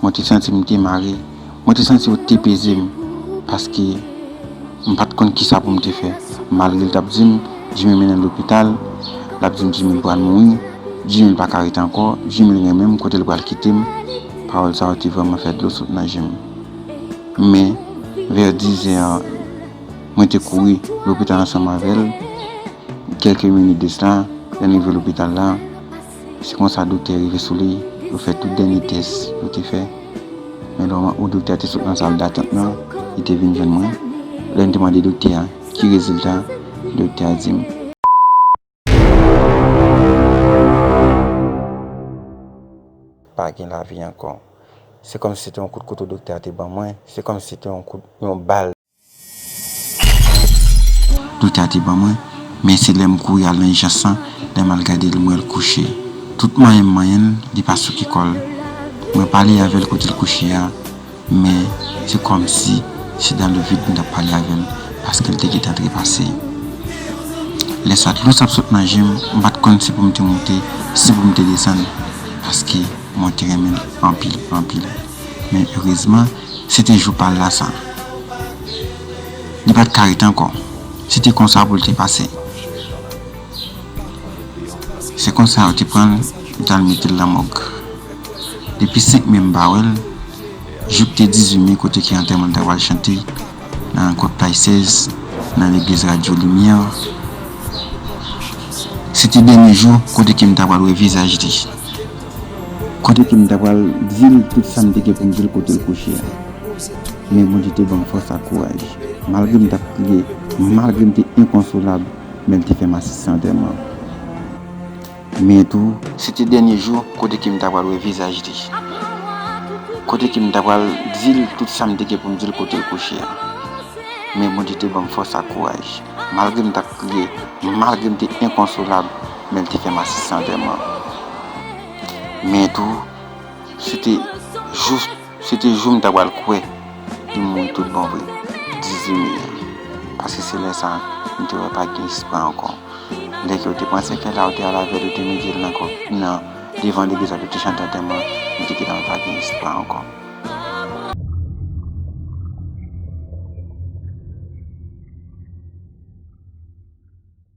Mwen te santi m te mare. Mwen te santi yo te peze m paske m pa t konn ki sa pou m te fè. Malgre l t ap di m, Jimmy mennen l lopital, l ap di m Jimmy l pral mouri, Jimmy l pa ka rete ankò, Jimmy l renmen m, kote l pral kite m, pawòl sa yo te vrèman fè dlo sot nan je m. Men, vè dizè, mwen te kouri lopital ansanm avè l. Kèlke minit de sa, lè n rive lopital la. Se konsa doktè rive sou li, yo fè tout dènye tès yo te fè. Men lè ou doktè a te sot nan sal datant nan, li te vin jwenn mwen. Lè m te mande doktè a ki rezilta, doktè a di m. Pa gen lavi ankò. Se kòmsi se te yon kout kouto doktè a te ban mwen, se kòmsi se te yon kout, yon bal. Prita te ban mwen, men se lè m kouri al nan ijans lan, lè m al gade l m wè l kouche. Tout manyen m manyen l, li pa souke kò l. Mwen pale avè l kote l kouche a, men se kòmsi se dan le vid m t ap pale avè l, paske l te gen tan trepase. Lè sa dlo t ap sot nan je m, m pa t konn si pou m te monte, si pou m te desann, paske mwen te renmen l anpil, anpil. Men erezman, se te jou pa l la sa. Li pa t ka ret ankò. Se te konsa pou l te pase. Se konsa yo te pran l, yo t al mete l nan mòg. Depi 5 me m pa wè l, jouk te 18 me kote ke antèman l ta pral chante nan Kot Pay 16, nan legliz Radyo Limyè. Se te dènye jou kote ke m ta pral wè vizaj li. Kote ke m ta pral di l tout sa m te gen pou m di l kote l kouche a. Men Bondye te ban m fòs ak kouraj. Malgre m t ap kriye, malgre m te enkonsolab, men l te fè m asiste antèman. Men tou. Se te dènye jou kote ke m ta pral wè vizaj li. Kote ke m ta pral di l tout sa m te gen pou m di l kote l kouche a. Men Bondye te ban m fòs ak kouraj. Malgre m t ap kriye, malgre m te enkonsolab. men l te fè m asistan antèman. Men tou, se te jou se te jou m ta pral kwè li mouri tout bon vre, 18 me a. Paske se lè sa m te wè pa gen espwa ankò. Lè ke yo te pran sèkèy la, yo te al avè l, yo te mete l nan kò nan devan legliz la pou yo te chante antèman, li te gentan pa gen espwa ankò.